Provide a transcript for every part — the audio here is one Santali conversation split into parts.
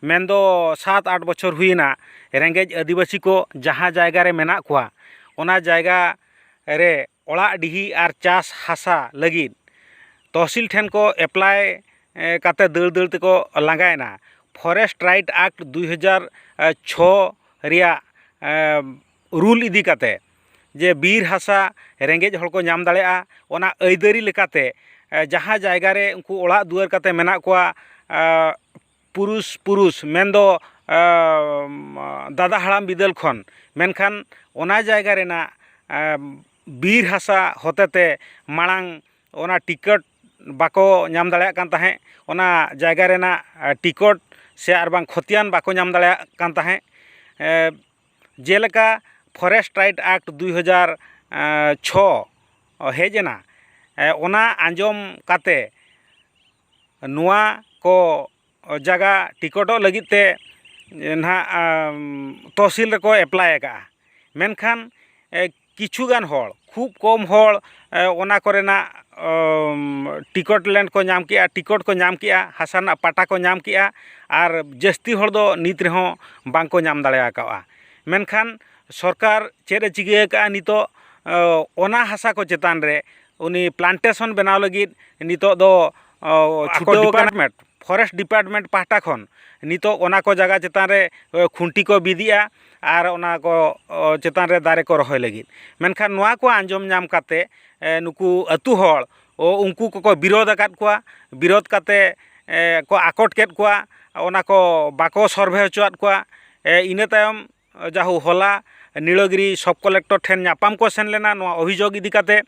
ᱢᱮᱱ ᱫᱚ ᱥᱟᱛ ᱟᱴ ᱵᱚᱪᱷᱚᱨ ᱦᱩᱭᱮᱱᱟ ᱨᱮᱸᱜᱮᱡ ᱟᱹᱫᱤᱵᱟᱹᱥᱤ ᱠᱚ ᱡᱟᱦᱟᱸ ᱡᱟᱭᱜᱟ ᱨᱮ ᱢᱮᱱᱟᱜ ᱠᱚᱣᱟ ᱚᱱᱟ ᱡᱟᱭᱜᱟ ᱨᱮ ᱚᱲᱟᱜ ᱰᱤᱦᱤ ᱟᱨ ᱪᱟᱥ ᱦᱟᱥᱟ ᱞᱟᱹᱜᱤᱫ ᱛᱚᱦᱥᱤᱞ ᱴᱷᱮᱱ ᱠᱚ ᱮᱯᱞᱟᱭ ᱠᱟᱛᱮ ᱫᱟᱹᱲ ᱫᱟᱹᱲ ᱛᱮᱠᱚ ᱞᱟᱸᱜᱟᱭᱮᱱᱟ ᱯᱷᱚᱨᱮᱥᱴ ᱨᱟᱭᱤᱴ ᱮᱠᱴ ᱫᱩᱭ ᱦᱟᱡᱟᱨ ᱪᱷᱚ ᱨᱮᱭᱟᱜ ᱨᱩᱞ ᱤᱫᱤ ᱠᱟᱛᱮ ᱡᱮ ᱵᱤᱨ ᱦᱟᱥᱟ ᱨᱮᱸᱜᱮᱡ ᱦᱚᱲ ᱠᱚ ᱧᱟᱢ ᱫᱟᱲᱮᱭᱟᱜᱼᱟ ᱚᱱᱟ ᱟᱹᱭᱫᱟᱹᱨᱤ ᱞᱮᱠᱟᱛᱮ ᱡᱟᱦᱟᱸ ᱡᱟᱭᱜᱟ ᱨᱮ ᱩᱱᱠᱩ ᱚᱲᱟᱜ ᱫᱩᱣᱟᱹᱨ ᱠᱟᱛᱮ ᱢᱮᱱᱟᱜ ᱠᱚᱣᱟ ᱯᱩᱨᱩᱥ ᱯᱩᱨᱩᱥ ᱢᱮᱱᱫᱚ ᱫᱟᱫᱟ ᱦᱟᱲᱟᱢ ᱵᱤᱫᱟᱹᱞ ᱠᱷᱚᱱ ᱢᱮᱱᱠᱷᱟᱱ ᱚᱱᱟ ᱡᱟᱭᱜᱟ ᱨᱮᱱᱟᱜ ᱵᱤᱨ ᱦᱟᱥᱟ ᱦᱚᱛᱮ ᱛᱮ ᱢᱟᱲᱟᱝ ᱚᱱᱟ ᱴᱤᱠᱤᱴ ᱵᱟᱠᱚ ᱧᱟᱢ ᱫᱟᱲᱮᱭᱟᱜ ᱠᱟᱱ ᱛᱟᱦᱮᱸᱫ ᱚᱱᱟ ᱡᱟᱭᱜᱟ ᱨᱮᱱᱟᱜ ᱴᱤᱠᱤᱴ ᱥᱮ ᱟᱨ ᱵᱟᱝ ᱠᱷᱚᱛᱤᱭᱟᱱ ᱵᱟᱠᱚ ᱧᱟᱢ ᱫᱟᱲᱮᱭᱟᱜ ᱠᱟᱱ ᱛᱟᱦᱮᱸᱫ ᱡᱮᱞᱮᱠᱟ ᱯᱷᱚᱨᱮᱥᱴ ᱨᱟᱭᱤᱴ ᱮᱠᱴ ᱫᱩᱭ ᱦᱟᱡᱟᱨ ᱪᱷᱚ ᱦᱮᱡ ᱮᱱᱟ ᱚᱱᱟ ᱟᱸᱡᱚᱢ ᱠᱟᱛᱮᱫ ᱱᱚᱣᱟ ᱠᱚ ᱡᱟᱭᱜᱟ ᱴᱤᱠᱤᱴᱚᱜ ᱞᱟᱹᱜᱤᱫ ᱛᱮ ᱱᱟᱜ ᱛᱚᱦᱥᱤᱞ ᱨᱮᱠᱚ ᱮᱯᱞᱟᱭ ᱟᱠᱟᱫᱼᱟ ᱢᱮᱱᱠᱷᱟᱱ ᱠᱤᱪᱷᱩ ᱜᱟᱱ ᱦᱚᱲ ᱠᱷᱩᱵᱽ ᱠᱚᱢ ᱦᱚᱲ ᱚᱱᱟ ᱠᱚᱨᱮᱱᱟᱜ ᱴᱤᱠᱤᱴ ᱞᱮᱱ ᱠᱚ ᱧᱟᱢ ᱠᱮᱫᱼᱟ ᱴᱤᱠᱤᱴ ᱠᱚ ᱧᱟᱢ ᱠᱮᱫᱼᱟ ᱦᱟᱥᱟ ᱨᱮᱱᱟᱜ ᱯᱟᱴᱟ ᱠᱚ ᱧᱟᱢ ᱠᱮᱫᱼᱟ ᱟᱨ ᱡᱟᱹᱥᱛᱤ ᱦᱚᱲ ᱫᱚ ᱱᱤᱛ ᱨᱮᱦᱚᱸ ᱵᱟᱝ ᱠᱚ ᱧᱟᱢ ᱫᱟᱲᱮ ᱟᱠᱟᱫᱼᱟ ᱢᱮᱱᱠᱷᱟᱱ ᱥᱚᱨᱠᱟᱨ ᱪᱮᱫ ᱮ ᱪᱤᱠᱟᱹ ᱟᱠᱟᱫᱼᱟ ᱱᱤᱛᱚᱜ ᱚᱱᱟ ᱦᱟᱥᱟ ᱠᱚ ᱪᱮᱛᱟᱱ ᱨᱮ ᱩᱱᱤ ᱯᱞᱟᱱᱴᱮᱥᱚᱱ ᱵᱮᱱᱟᱣ ᱞᱟᱹᱜᱤᱫ ᱱᱤᱛᱚᱜ ᱫᱚ ᱪᱷᱩᱴᱟᱹᱣ ᱰᱤᱯᱟᱨᱴᱢᱮᱱᱴ ᱯᱷᱚᱨᱮᱥᱴ ᱰᱤᱯᱟᱨᱴᱢᱮᱱᱴ ᱯᱟᱦᱴᱟ ᱠᱷᱚᱱ ᱱᱤᱛᱚᱜ ᱚᱱᱟ ᱠᱚ ᱡᱟᱭᱜᱟ ᱪᱮᱛᱟᱱ ᱨᱮ ᱠᱷᱩᱱᱴᱤ ᱠᱚ ᱵᱤᱫᱮᱜᱼᱟ ᱟᱨ ᱚᱱᱟ ᱠᱚ ᱪᱮᱛᱟᱱ ᱨᱮ ᱫᱟᱨᱮ ᱠᱚ ᱨᱚᱦᱚᱭ ᱞᱟᱹᱜᱤᱫ ᱢᱮᱱᱠᱷᱟᱱ ᱱᱚᱣᱟ ᱠᱚ ᱟᱸᱡᱚᱢ ᱧᱟᱢ ᱠᱟᱛᱮ ᱱᱩᱠᱩ ᱟᱛᱳ ᱦᱚᱲ ᱩᱱᱠᱩ ᱠᱚᱠᱚ ᱵᱤᱨᱳᱫ ᱟᱠᱟᱫ ᱠᱚᱣᱟ ᱵᱤᱨᱳᱫ ᱠᱟᱛᱮ ᱠᱚ ᱟᱠᱚᱴ ᱠᱮᱫ ᱠᱚᱣᱟ ᱚᱱᱟ ᱠᱚ ᱵᱟᱠᱚ ᱥᱚᱨᱵᱷᱮ ᱦᱚᱪᱚᱣᱟᱜ ᱠᱚᱣᱟ ᱤᱱᱟᱹ ᱛᱟᱭᱚᱢ ᱡᱟᱦᱳ ᱦᱚᱞᱟ ᱱᱤᱲᱚᱜᱤᱨᱤ ᱥᱚᱵᱽ ᱠᱚᱞᱮᱠᱴᱚᱨ ᱴᱷᱮᱱ ᱧᱟᱯᱟᱢ ᱠᱚ ᱥᱮᱱ ᱞᱮᱱᱟ ᱱᱚᱣᱟ ᱚᱵᱷᱤᱡᱳᱜᱽ ᱤᱫᱤ ᱠᱟᱛᱮ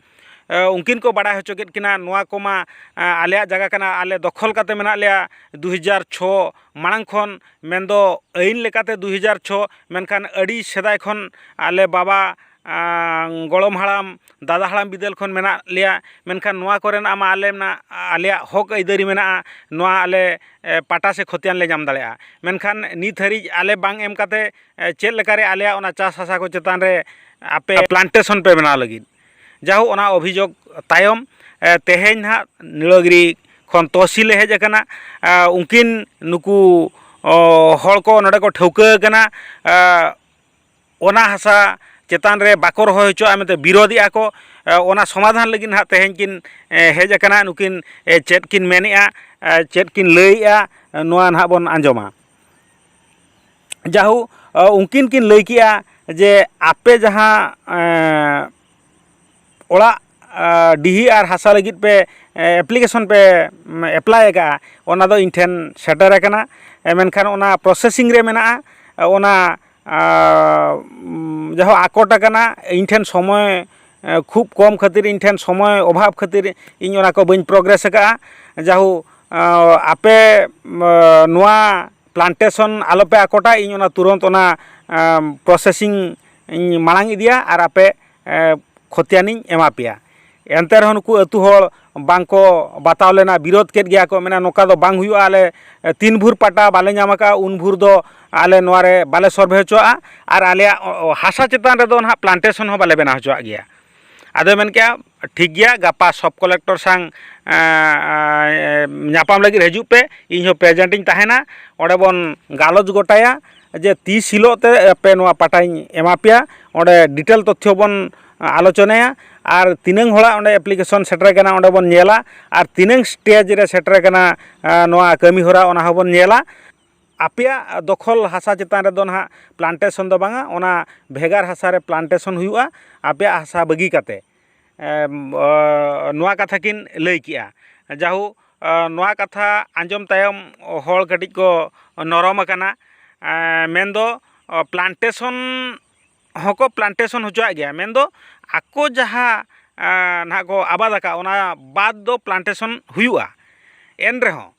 ᱩᱱᱠᱤᱱ ᱠᱚ ᱵᱟᱲᱟᱭ ᱦᱚᱪᱚ ᱠᱮᱫ ᱠᱤᱱᱟ ᱱᱚᱣᱟ ᱠᱚᱢᱟ ᱟᱞᱮᱭᱟᱜ ᱡᱟᱭᱜᱟ ᱠᱟᱱᱟ ᱟᱞᱮ ᱫᱚᱠᱷᱚᱞ ᱠᱟᱛᱮ ᱢᱮᱱᱟᱜ ᱞᱮᱭᱟ ᱫᱩ ᱦᱟᱡᱟᱨ ᱪᱷᱚ ᱢᱟᱲᱟᱝ ᱠᱷᱚᱱ ᱢᱮᱱᱫᱚ ᱟᱹᱭᱤᱱ ᱞᱮᱠᱟᱛᱮ ᱫᱩ ᱦᱟᱡᱟᱨ ᱪᱷᱚ ᱢᱮᱱᱠᱷᱟᱱ ᱟᱹᱰᱤ ᱥᱮᱫᱟᱭ ᱠᱷᱚᱱ ᱟᱞᱮ ᱵᱟᱵᱟ ᱜᱚᱲᱚᱢ ᱦᱟᱲᱟᱢ ᱫᱟᱫᱟ ᱦᱟᱲᱟᱢ ᱵᱤᱫᱟᱹᱞ ᱠᱷᱚᱱ ᱢᱮᱱᱟᱜ ᱞᱮᱭᱟ ᱢᱮᱱᱠᱷᱟᱱ ᱱᱚᱣᱟ ᱠᱚᱨᱮᱱᱟᱜ ᱢᱟ ᱟᱞᱮ ᱢᱟ ᱟᱞᱮᱭᱟᱜ ᱦᱚᱸᱠ ᱟᱹᱭᱫᱟᱹᱨᱤ ᱢᱮᱱᱟᱜᱼᱟ ᱱᱚᱣᱟ ᱟᱞᱮ ᱯᱟᱴᱟ ᱥᱮ ᱠᱷᱚᱛᱤᱭᱟᱱ ᱞᱮ ᱧᱟᱢ ᱫᱟᱲᱮᱭᱟᱜᱼᱟ ᱢᱮᱱᱠᱷᱟᱱ ᱱᱤᱛ ᱦᱟᱹᱨᱤᱡ ᱟᱞᱮ ᱵᱟᱝ ᱮᱢ ᱠᱟᱛᱮ ᱪᱮᱫ ᱞᱮᱠᱟᱨᱮ ᱟᱞᱮᱭᱟᱜ ᱚᱱᱟ ᱪᱟᱥ ᱦᱟᱥᱟ ᱠᱚ ᱪᱮᱛᱟᱱ ᱨᱮ ᱟᱯᱮ ᱯᱞᱟᱱᱴᱮᱥᱚᱱ ᱯᱮ ᱵᱮᱱᱟᱣ ᱞᱟᱹᱜᱤᱫ ᱡᱟᱭᱦᱳᱠ ᱚᱱᱟ ᱚᱵᱷᱤᱡᱳᱜᱽ ᱛᱟᱭᱚᱢ ᱛᱮᱦᱮᱧ ᱱᱟᱦᱟᱜ ᱱᱤᱲᱟᱹᱜᱤᱨᱤ ᱠᱷᱚᱱ ᱛᱚᱦᱚᱥᱤᱞᱮ ᱦᱮᱡ ᱠᱟᱱᱟ ᱩᱱᱠᱤᱱ ᱱᱩᱠᱩ ᱦᱚᱲ ᱠᱚ ᱱᱚᱰᱮ ᱠᱚ ᱴᱷᱟᱹᱣᱠᱟᱹ ᱠᱟᱱᱟ ᱚᱱᱟ ᱦᱟᱥᱟ ᱪᱮᱛᱟᱱ ᱨᱮ ᱵᱟᱠᱚ ᱨᱚᱦᱚᱭ ᱦᱚᱪᱚᱣᱟᱜᱼᱟ ᱢᱮᱱᱛᱮ ᱵᱤᱨᱳᱫᱮᱜᱼᱟ ᱠᱚ ᱚᱱᱟ ᱥᱚᱢᱟᱫᱷᱟᱱ ᱞᱟᱹᱜᱤᱫ ᱱᱟᱜ ᱛᱮᱦᱮᱧ ᱠᱤᱱ ᱦᱮᱡ ᱟᱠᱟᱱᱟ ᱱᱩᱠᱤᱱ ᱪᱮᱫ ᱠᱤᱱ ᱢᱮᱱᱮᱜᱼᱟ ᱪᱮᱫ ᱠᱤᱱ ᱞᱟᱹᱭᱮᱜᱼᱟ ᱱᱚᱣᱟ ᱱᱟᱜ ᱵᱚᱱ ᱟᱸᱡᱚᱢᱟ ᱡᱟᱦᱳᱠ ᱩᱱᱠᱤᱱ ᱠᱤᱱ ᱞᱟᱹᱭ ᱠᱮᱜᱼᱟ ᱡᱮ ᱟᱯᱮ ᱡᱟᱦᱟᱸ ᱚᱲᱟᱜ ᱰᱤᱦᱤ ᱟᱨ ᱦᱟᱥᱟ ᱞᱟᱹᱜᱤᱫ ᱯᱮ ᱮᱯᱞᱤᱠᱮᱥᱚᱱ ᱯᱮ ᱮᱯᱞᱟᱭ ᱠᱟᱜᱼᱟ ᱚᱱᱟ ᱫᱚ ᱤᱧ ᱴᱷᱮᱱ ᱥᱮᱴᱮᱨ ᱠᱟᱱᱟ ᱢᱮᱱᱠᱷᱟᱱ ᱚᱱᱟ ᱯᱨᱚᱥᱮᱥᱤᱝ ᱨᱮ ᱢᱮᱱᱟᱜᱼᱟ ᱚᱱᱟ ᱡᱟᱦᱟᱸ ᱟᱠᱚᱴ ᱠᱟᱱᱟ ᱤᱧ ᱴᱷᱮᱱ ᱥᱚᱢᱚᱭ ᱠᱷᱩᱵ ᱠᱚᱢ ᱠᱷᱟᱹᱛᱤᱨ ᱤᱧ ᱴᱷᱮᱱ ᱥᱚᱢᱚᱭ ᱚᱵᱷᱟᱵᱽ ᱠᱷᱟᱹᱛᱤᱨ ᱤᱧ ᱚᱱᱟ ᱠᱚ ᱵᱟᱹᱧ ᱯᱨᱚᱜᱨᱮᱥ ᱠᱟᱜᱼᱟ ᱡᱟᱭᱦᱳᱠ ᱟᱯᱮ ᱱᱚᱣᱟ ᱯᱞᱟᱱᱴᱮᱥᱚᱱ ᱟᱞᱚᱯᱮ ᱟᱠᱚᱴᱟ ᱤᱧ ᱚᱱᱟ ᱛᱩᱨᱚᱱᱛ ᱚᱱᱟ ᱯᱨᱚᱥᱮᱥᱤᱝ ᱤᱧ ᱢᱟᱲᱟᱝ ᱤᱫᱤᱭᱟ ᱟᱨ ᱟᱯᱮ ᱠᱷᱚᱛᱤᱭᱟᱱᱤᱧ ᱮᱢᱟ ᱯᱮᱭᱟ ᱮᱱᱛᱮ ᱨᱮᱦᱚᱸ ᱱᱩᱠᱩ ᱟᱛᱳ ᱦᱚᱲ ᱵᱟᱝ ᱠᱚ ᱵᱟᱛᱟᱣ ᱞᱮᱱᱟ ᱵᱤᱨᱳᱫᱷ ᱠᱮᱫ ᱜᱮᱭᱟ ᱠᱚ ᱢᱮᱱᱟ ᱱᱚᱝᱠᱟ ᱫᱚ ᱵᱟᱝ ᱦᱩᱭᱩᱜᱼᱟ ᱟᱞᱮ ᱛᱤᱱ ᱵᱷᱳᱨ ᱯᱟᱴᱟ ᱵᱟᱞᱮ ᱧᱟᱢ ᱟᱠᱟᱫᱼᱟ ᱩᱱ ᱵᱷᱳᱨ ᱫᱚ ᱟᱞᱮ ᱱᱚᱣᱟ ᱨᱮ ᱵᱟᱞᱮ ᱥᱚᱨᱵᱷᱮ ᱦᱚᱪᱚᱣᱟᱜᱼᱟ ᱟᱨ ᱟᱞᱮᱭᱟᱜ ᱦᱟᱥᱟ ᱪᱮᱛᱟᱱ ᱨᱮᱫᱚ ᱦᱟᱸᱜ ᱯᱞᱟᱱᱴᱮᱥᱚᱱ ᱦᱚᱸ ᱵᱟᱞᱮ ᱵᱮᱱᱟᱣ ᱦᱚᱪᱚᱣᱟᱜ ᱜᱮᱭᱟ ᱟᱫᱚᱭ ᱢᱮᱱ ᱠᱮᱜᱼᱟ ᱴᱷᱤᱠ ᱜᱮᱭᱟ ᱜᱟᱯᱟ ᱥᱚᱵᱽ ᱠᱚᱞᱮᱠᱴᱚᱨ ᱥᱟᱶ ᱧᱟᱯᱟᱢ ᱞᱟᱹᱜᱤᱫ ᱦᱤᱡᱩᱜ ᱯᱮ ᱤᱧ ᱦᱚᱸ ᱯᱨᱮᱡᱮᱱᱴ ᱤᱧ ᱛᱟᱦᱮᱱᱟ ᱚᱸᱰᱮ ᱵᱚᱱ ᱜᱟᱞᱚᱪ ᱜᱚᱴᱟᱭᱟ ᱡᱮ ᱛᱤᱥ ᱦᱤᱞᱳᱜ ᱛᱮ ᱟᱯᱮ ᱱᱚᱣᱟ ᱯᱟᱴᱟᱧ ᱮᱢᱟ ᱯᱮᱭᱟ ᱚᱸᱰᱮ ᱰᱤᱴᱮᱞ ᱛᱚᱛᱛᱷᱚ ᱵᱚᱱ ᱟᱞᱳᱪᱚᱱᱟᱭᱟ ᱟᱨ ᱛᱤᱱᱟᱹᱝ ᱦᱚᱲᱟᱜ ᱚᱸᱰᱮ ᱮᱯᱞᱤᱠᱮᱥᱚᱱ ᱥᱮᱴᱮᱨ ᱠᱟᱱᱟ ᱚᱸᱰᱮ ᱵᱚᱱ ᱧᱮᱞᱟ ᱟᱨ ᱛᱤᱱᱟᱹᱝ ᱥᱴᱮᱡᱽ ᱨᱮ ᱥᱮᱴᱮᱨ ᱠᱟᱱᱟ ᱱᱚᱣᱟ ᱠᱟᱹᱢᱤᱦᱚᱨᱟ ᱚᱱᱟ ᱦᱚᱸᱵᱚᱱ ᱧᱮᱞᱟ ᱟᱯᱮᱭᱟᱜ ᱫᱚᱠᱷᱚᱞ ᱦᱟᱥᱟ ᱪᱮᱛᱟᱱ ᱨᱮᱫᱚ ᱱᱟᱦᱟᱜ ᱯᱞᱟᱱᱴᱮᱥᱚᱱ ᱫᱚ ᱵᱟᱝᱟ ᱚᱱᱟ ᱵᱷᱮᱜᱟᱨ ᱦᱟᱥᱟ ᱨᱮ ᱯᱞᱟᱱᱴᱮᱥᱚᱱ ᱦᱩᱭᱩᱜᱼᱟ ᱟᱯᱮᱭᱟᱜ ᱦᱟᱥᱟ ᱵᱟᱹᱜᱤ ᱠᱟᱛᱮ ᱱᱚᱣᱟ ᱠᱟᱛᱷᱟ ᱠᱤᱱ ᱞᱟᱹᱭ ᱠᱮᱜᱼᱟ ᱡᱟᱭᱦᱳᱠ ᱱᱚᱣᱟ ᱠᱟᱛᱷᱟ ᱟᱸᱡᱚᱢ ᱛᱟᱭᱚᱢ ᱦᱚᱲ ᱠᱟᱹᱴᱤᱡ ᱠᱚ ᱱᱚᱨᱚᱢ ᱟᱠᱟᱱᱟ ᱢᱮᱱᱫᱚ ᱯᱞᱟᱱᱴᱮᱥᱚᱱ ᱦᱚᱸᱠᱚ ᱯᱞᱟᱱᱴᱮᱥᱚᱱ ᱦᱚᱪᱚᱣᱟᱜ ᱜᱮᱭᱟ ᱢᱮᱱᱫᱚ ᱟᱠᱚ ᱡᱟᱦᱟᱸ ᱱᱟᱦᱟᱜ ᱠᱚ ᱟᱵᱟᱫ ᱟᱠᱟᱫ ᱚᱱᱟ ᱵᱟᱫ ᱫᱚ ᱯᱞᱟᱱᱴᱮᱥᱚᱱ ᱦᱩᱭᱩᱜᱼᱟ ᱮᱱ ᱨᱮᱦᱚᱸ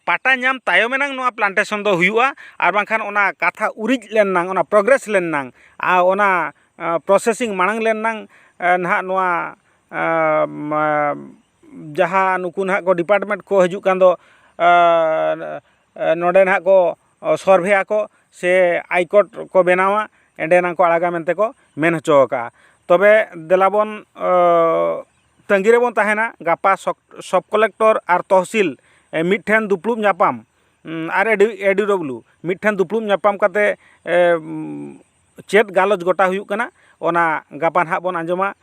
ᱯᱟᱴᱟ ᱧᱟᱢ ᱛᱟᱭᱚᱢ ᱮᱱᱟᱝ ᱱᱚᱣᱟ ᱯᱞᱟᱱᱴᱮᱥᱚᱱ ᱫᱚ ᱦᱩᱭᱩᱜᱼᱟ ᱟᱨ ᱵᱟᱝᱠᱷᱟᱱ ᱚᱱᱟ ᱠᱟᱛᱷᱟ ᱩᱨᱤᱡ ᱞᱮᱱ ᱮᱱᱟᱝ ᱚᱱᱟ ᱯᱨᱚᱜᱨᱮᱥ ᱞᱮᱱ ᱮᱱᱟᱝ ᱟᱨ ᱚᱱᱟ ᱯᱨᱚᱥᱮᱥᱤᱝ ᱢᱟᱲᱟᱝ ᱞᱮᱱ ᱮᱱᱟᱝ ᱱᱟᱦᱟᱜ ᱱᱚᱣᱟ ᱡᱟᱦᱟᱸ ᱱᱩᱠᱩ ᱱᱟᱦᱟᱜ ᱠᱚ ᱰᱤᱯᱟᱨᱴᱢᱮᱱᱴ ᱠᱚ ᱦᱤᱡᱩᱜ ᱠᱟᱱ ᱫᱚ ᱱᱚᱸᱰᱮ ᱱᱟᱜ ᱠᱚ ᱥᱚᱨᱵᱷᱮ ᱟᱠᱚ ᱥᱮ ᱟᱭ ᱠᱳᱰ ᱠᱚ ᱵᱮᱱᱟᱣᱟ ᱚᱸᱰᱮ ᱱᱟᱝ ᱠᱚ ᱟᱲᱟᱜᱟ ᱢᱮᱱᱛᱮ ᱠᱚ ᱢᱮᱱ ᱦᱚᱪᱚᱣ ᱠᱟᱜᱼᱟ ᱛᱚᱵᱮ ᱫᱮᱞᱟ ᱵᱚᱱ ᱛᱟᱹᱜᱤ ᱨᱮᱵᱚᱱ ᱛᱟᱦᱮᱱᱟ ᱜᱟᱯᱟ ᱥᱚᱵᱽ ᱠᱚᱞᱮᱠᱴᱚᱨ ᱟᱨ ᱛᱚᱦᱥᱤᱞ ᱢᱤᱫ ᱴᱷᱮᱱ ᱫᱩᱯᱲᱩᱵ ᱧᱟᱯᱟᱢ ᱟᱨ ᱮ ᱰᱤ ᱰᱚᱵᱞᱤᱭᱩ ᱢᱤᱫ ᱴᱷᱮᱱ ᱫᱩᱯᱲᱩᱵ ᱧᱟᱯᱟᱢ ᱠᱟᱛᱮ ᱪᱮᱫ ᱜᱟᱞᱚᱪ ᱜᱚᱴᱟ ᱦᱩᱭᱩᱜ ᱠᱟᱱᱟ ᱚᱱᱟ ᱜᱟᱯᱟ ᱱᱟᱦᱟᱜ ᱵᱚᱱ ᱟᱸᱡᱚᱢᱟ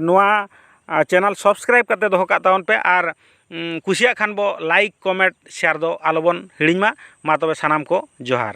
ᱱᱚᱣᱟ ᱪᱮᱱᱮᱞ ᱥᱟᱵᱥᱠᱨᱟᱭᱤᱵᱽ ᱠᱟᱛᱮᱫ ᱫᱚᱦᱚ ᱠᱟᱜ ᱛᱟᱵᱚᱱ ᱯᱮ ᱟᱨ ᱠᱩᱥᱤᱭᱟᱜ ᱠᱷᱟᱱ ᱵᱚᱱ ᱞᱟᱭᱤᱠ ᱠᱚᱢᱮᱱᱴ ᱥᱮᱭᱟᱨ ᱫᱚ ᱟᱞᱚ ᱵᱚᱱ ᱦᱤᱲᱤᱧ ᱢᱟ ᱢᱟ ᱛᱚᱵᱮ ᱥᱟᱱᱟᱢ ᱠᱚ ᱡᱚᱦᱟᱨ